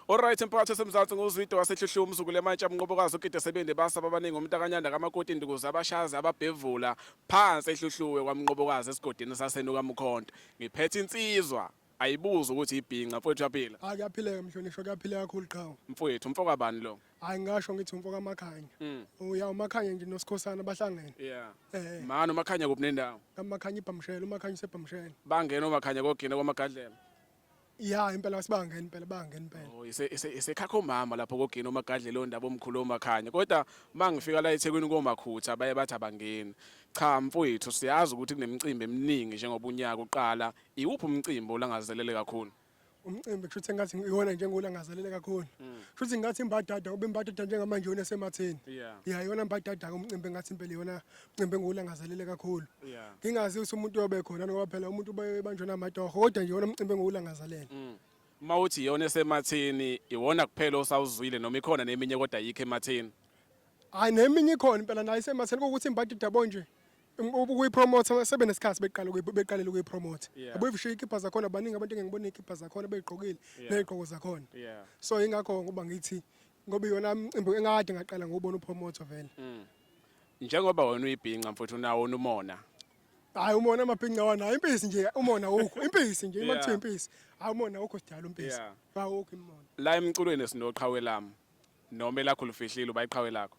Oright emphakathi osemzansi nguzwide wasehluhliwe umzukulu emantshe amnqobokazi ugide sebende basaba abaningi umntakanyanda kamakoti indukuzi abashazi ababhevula phansi ehluhluwe kwamnqobokazi esigodini sasenuka mkhonto ngiphethe insizwa ayibuza ukuthi ibhinca mfowethu uyaphila hayi kuyaphileka mhlonishwa kuyaphileka kakhulu qhawe mfowethu umfo kabani lo hayi ngasho ngithi umfo kamakhanya hmm. uya umakhanya nje nosikhosana bahlangene yeah eh mani umakhanya kuphi nendawo kamakhanya ibhamshela umakhanya usebhamshela bangena umakhanya kogina kwamagadlela ya impela basibangeni impela bangeni impela Oh, ise- ise- isekhakha umama lapho kogini omagadle leyo ndaba omkhulu omakhanya kodwa uma ngifika la ethekwini komakhutha baye bathi abangeni cha mfowethu siyazi ukuthi kunemicimbi eminingi njengoba unyaka uqala iwuphi umcimbi olangazelele kakhulu umcimbi kusho ukuthi ngathi iwona nje ngolangazelele kakhulu kusho ukuthi ngathi imbadada ube imbadada njengamanje yona esematheni yeah ya yona mbadada-ke umcimbi ngathi impela yona Cimbe ngiwulangazelele kakhulu. Yeah. Ngingazi ukuthi umuntu uyobe khona ngoba phela umuntu ubanjwe namatoho kodwa nje wona umcimbi engiwulangazelele. Mm. Uma uthi yona esemathini iwona kuphela osawuzwile noma ikhona neminye kodwa yikho emathini. Hayi neminye ikhona impela nayo isemathini ukuthi imbadi dabo nje ukuyipromote sebe nesikhathi beqala beqalele ukuyipromote abuyifishe ikhipha zakhona abaningi abantu engengibona ikhipha zakhona beyigqokile nezigqoko zakhona so ingakho ngoba ngithi ngoba iyona mcimbi engade ngaqala ngubona upromoter vele mm. Njengoba wena uyibhinca mfuthu nawo unumona. Hayi umona amabhinca wanayo impisi nje umona wukho impisi nje uma kuthiwa impisi hayi umona wukho sidala umpisi awukho imona. La emculweni sinoqhawe lami noma elakho lufihlile ubayiqhawe lakho.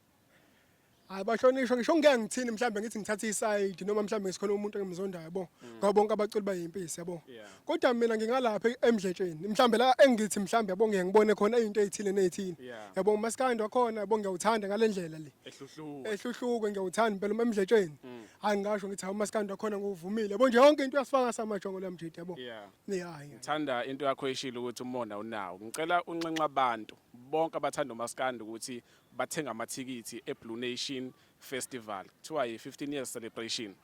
Hayi bahlonishwa ngisho ngeke ngithini mhlawumbe ngithi ngithatha isayidi noma mhlawumbe ngisikhona umuntu engimzondayo yabo. Mm. Ngoba bonke abaculi bayimpisi yabo. kodwa mina ngingalapha emdletsheni mhlawumbe la engithi mhlawumbe yabo ngeke ngibone khona into ezithile nezithile Yeah. yabo umaskandi wakhona yabo ngiyawuthanda ngalendlela le ehluhluka ehluhluko ngiyawuthanda impela uma emdletsheni Mm. hayi ngasho ngithi hawu umaskandi wakhona nguvumile yabo nje yonke into uyasifaka samajongo la mjidi yabo yeah yeah yeah. thanda into yakho eshilo ukuthi umona unawo ngicela unxenxa abantu bonke abathanda umaskandi ukuthi bathenga amathikithi eblue nation festival kuthiwa yi-15 years celebration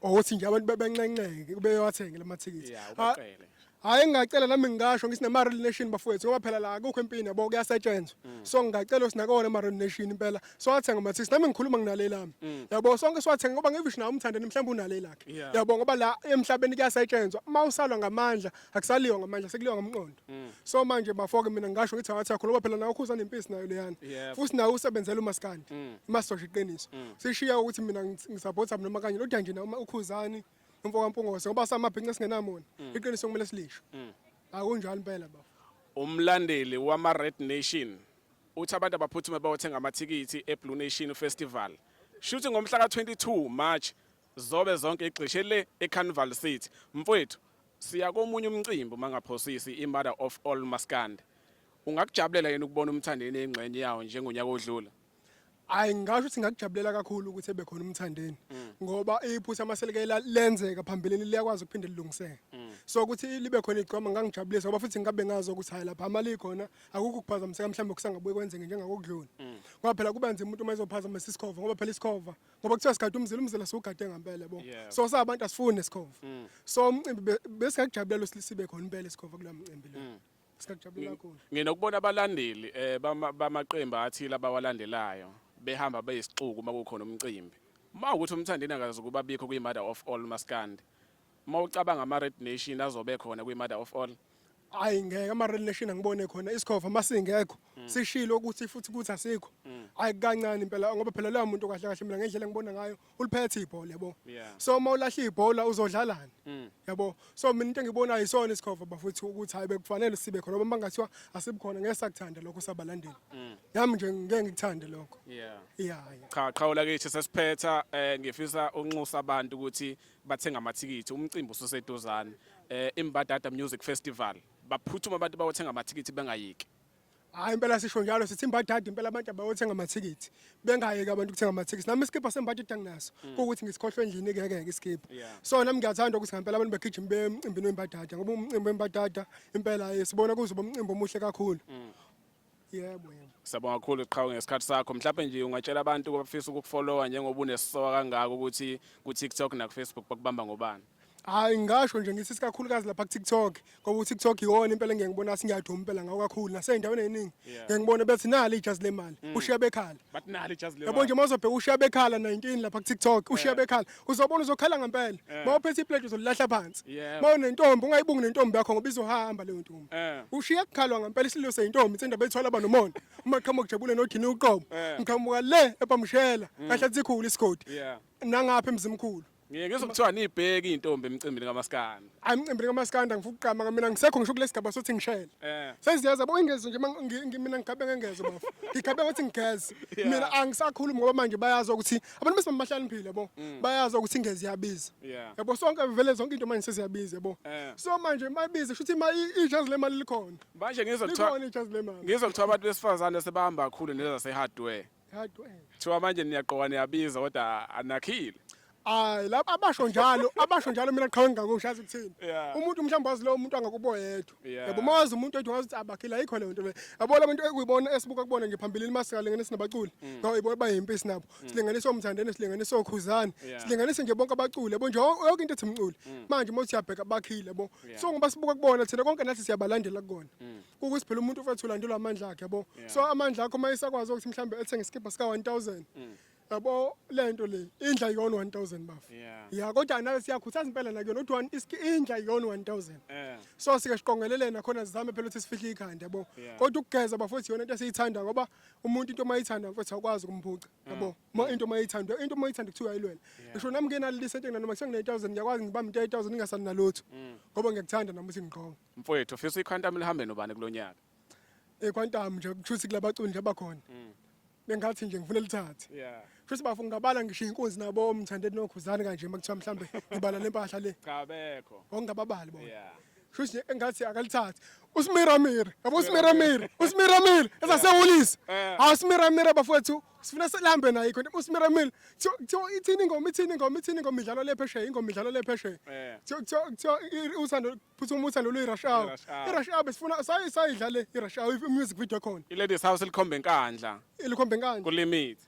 ukuthi nje abantu bebenxenxeke beyowathenge la mathikithi Yeah, Ha- ubaqele. hhayi ngingacela nami ngingasho ngithi nama-real nation bafowethu ngoba phela la akukho empini yabo kuyasetshenzwa so ngingacela sinakona ama-real nation impela siwathenga amathikithi nami ngikhuluma nginale lami yabo sonke siwathenga ngoba ngivisho nawe umthandeni mhlawumbe unale lakhe Yeah. yabo ngoba la emhlabeni kuyasetshenzwa uma usalwa ngamandla akusaliwa ngamandla sekuliwa ngomqondo mm. so manje bafoke mina ngasho ngithi awathi yakho loba phela nawe ukhuza nempisi nayo leyana futhi nawe usebenzela umaskandi mm. imasosha iqiniso mm. sishiya ukuthi mina ngisupporta noma kanye lodwa nje noma ukhuzani umfo kampungose ngoba samabhinca singenamona iqiniso kumele silisho akunjalo impela bafo umlandeli wama Red Nation uthi abantu abaphuthume bayothenga amathikithi eBlue Nation Festival shuthi ngomhla ka 22 March Zobe zonke igxishe le eCarnival City. Mfwethu, siya komunye umcimbi uma ngaphosisi imother of all maskandi. Ungakujabulela yena ukubona umthandeni engxenye yawo njengonyaka odlula? Hayi ngasho ukuthi ngakujabulela kakhulu ukuthi ebe khona umthandeni mm. ngoba iphutha amaselekela lenzeka phambilini liyakwazi ukuphinde lilungiseke. Mm. So ukuthi libe khona igcoma ngangijabulisa ngoba futhi ngabe ngazi ukuthi hayi lapha amali khona akukho kuphazamiseka mhlawumbe kusangabuye kwenzeke njengakokudlula. Mm. Ngoba phela kuba nzima umuntu uma ezophazamisa isikhova ngoba phela isikhova ngoba kuthiwa sigade umzila umzila siwugade ngempela bo Yeah. so sabantu asifuni nesikhova Mm. so umcimbi be- besingakujabulela ukuthi sibe khona impela isikhova kulo mcimbi lo Mm. singakujabulela kakhulu nginokubona abalandeli eh, bama- bamaqembu athile abawalandelayo behamba beyisixuku uma kukhona umcimbi uma ukuthi umthandeni akazi ukuba bikho kwi-mother of all maskandi uma ucabanga ama-red nation azobe khona kwi-mother of all hayi ngeke ama-relation angibone khona isikhova uma singekho mm. sishilo ukuthi futhi ukuthi asikho mm. hayi kancane impela ngoba phela loya muntu kahle kahle mina ngendlela engibona ngayo uliphethe ibhola yabo so uma ulahla ibhola uzodlalani mm. yabo so mina into engiyibonayo isona isikhova bafuthi ukuthi hayi bekufanele sibe khona ngoba bangathiwa asibukhona ngeke sakuthanda lokho sabalandeli yami nje ngeke ngikuthande lokho yeah yeah cha qhawula kithi sesiphetha eh, ngifisa unxusa abantu ukuthi bathenga amathikithi umcimbi ususeduzane eh imbadada music festival baphuthuma abantu bawothenga amathikithi bengayiki hayi impela sisho njalo sithi imbadada impela abantu abayothenga amathikithi bengayeki abantu ukuthenga amathikithi nami isikibha sembadada anginaso mm. kuwukuthi ngisikhohlwe endlini kuyeke ke isikibha so nami ngiyathanda ukuthi ngempela abantu begijima bemcimbini wembadada ngoba umcimbi wembadada impela eh, sibona kuzoba umcimbi omuhle kakhulu mm. Yebo yebo. Siyabonga kakhulu qhawe ngesikhathi sakho. Mhlawumbe nje ungatshela abantu abafisa ukukufollowa njengoba unesoka kangaka ukuthi ku TikTok na ku Facebook bakubamba ngobani. Hayi ngisho nje ngithi sikakhulukazi lapha ku TikTok ngoba u TikTok iwona impela engeke ngibona singiyaduma impela ngawo kakhulu nasezindaweni eziningi Yeah. ngeke ngibone bethi nali ijazi lemali ushiya bekhala. But nali ijazi Yabo nje mawuzobheka ushiya bekhala 19 lapha ku TikTok ushiya bekhala uzobona uzokhala ngempela Eh. uma uphethe iplate uzolilahla phansi Yebo. uma unentombi ungayibungi nentombi yakho ngoba izohamba leyo ntombi Eh. ushiya kukhalwa ngempela isililo seyintombi intsenda beyithwala aba nomona uma qhamuka ujabule nodini uqobo Eh. Mm. ngiqhamuka le ebamshela kahle atsikhulu isigodi Yeah. nangapha emzimkhulu Ngiye ngizokuthiwa nibheke intombi emcimbini kamaskandi. hayi mcimbini kamaskanda ngifuna ukuqama mina ngisekho ngisho kule sigaba sothi ngishele eh. sengiziyaza bo ingezwe nje ma- ngi- ngi- mina ngigabe ngengezwe bafo ngigabe ngothi ngigeze mina angisakhulumi ngoba manje bayazi ukuthi abantu bese bahlaniphile bo mm. bayazi ukuthi ingezi iyabiza Yeah. yabo sonke vele zonke into manje seziyabiza yabo Eh. so manje mayibiza shuthi ma i- ijazi lemali likhona manje ngizwa kuthiwa likhona ijazi lemali ngizwa kuthiwa abantu besifazane sebahamba kakhulu nezasehardware Thiwa manje niyaqoka niyabiza kodwa anakhile. Hayi lapha abasho njalo abasho njalo mina qhawe ngingakushazi kuthini. Yeah. Umuntu mhlawumbe wazi lo muntu angakubo yedwa. Yeah. Yabo mawazi umuntu ethi wazi ukuthi abakhile ayikho le nto le. Yabo la bantu ekuyibona esibuka kubona nje phambilini masikalengene sinabaculi. Ngawo ibo bayimpi sinabo. Silinganisa umthandene silinganisa okhuzani. Yeah. Silinganisa nje bonke abaculi yabo nje yonke into ethi mculi. Manje uma usiyabheka bakhile yabo. Yeah. So ngoba sibuka kubona thina konke nathi siyabalandela kukona. ukuthi phela umuntu ufethu ulandelwa amandla akhe yabo so amandla akho uma isakwazi ukuthi mhlawumbe ethenge isikibha sika 1000 mm. yabo le nto le indla yona 1000 bafu ya kodwa nayo siyakhuthaza impela nakuyona ukuthi one iski indla yona 1000 eh. so sike siqongelelena khona sizame phela ukuthi sifihle ikhanda yabo kodwa ukugeza bafuthi yona into esiyithanda ngoba umuntu into mayithanda mfethu akwazi ukumphuca yabo mm. uma into mayithanda into mayithanda kuthiwa ayilwela ngisho nami ngenalilisa into nginanoma kuse ngine 1000 ngiyakwazi ngibamba into 1000 ngingasali nalutho mm. ngoba ngiyakuthanda nami ukuthi ngiqonga Mfowethu ufisa iQuantum lihambe nobani kulonyaka? EQuantum nje kushuthi kulabaculi nje abakhona. Mm. Bengathi nje ngifuna lithathe. Yeah. Futhi bafu ngabala ngisho inkunzi nabo omthandeni nokhuzani kanje makuthiwa mhlambe ngibala lempahla le. Cha bekho. Ongababali bona. Yeah. Futhi engathi akalithathe. Usimiramira. Yabo usimiramira. Usimiramira. Ezasewulisa. Eh. Hawu usimiramira bafowethu. Sifuna selambe naye khona usimiramira. Kuthiwa ithini ingoma ithini ingoma ithini ingoma idlalwa le phesheya ingoma idlalwa le phesheya. Eh. Kuthiwa kuthiwa uthando futhi uma uthanda lo rush hour I-rush hour. i-rush hour besifuna sayi sayidlale i-rush hour i-music video ekhona iladies house likhombe enkandla ilikhombe nkani kulimit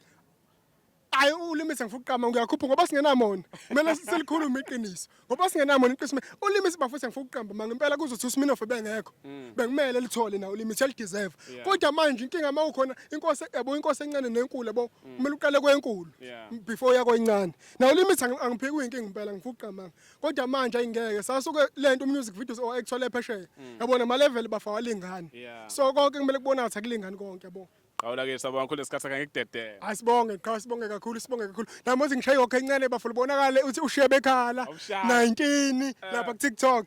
hayi ulimisi ngifuna ukuqama ngiyakhupha ngoba singenamona kumele silikhulume iqiniso ngoba singenamona iqiniso ulimisi bafuthe ngifuna ukuqamba manga impela kuzothi usminof bengekho bekumele lithole na ulimisi elideserve Mm. Yeah. kodwa manje inkinga uma ukhona inkosi yabo inkosi encane nenkulu yabo kumele uqale kwenkulu Mm. Yeah. before uya kwencane na ulimisi angipheki uyinkinga impela ngifuna ukuqamba kodwa manje ayingeke sasuke lento music videos or actually phesheya mm. yabona ma level bafa walingani so konke kumele kubonakala ukuthi akulingani konke yabo Qawula ke sabo kakhulu esikhathi sakhe ngikudedele. Asibonge qhawe sibonge kakhulu sibonge kakhulu. Namuzi ngishaye yonke incane bafo libonakale uthi ushiye bekhala 19 eh. lapha ku TikTok.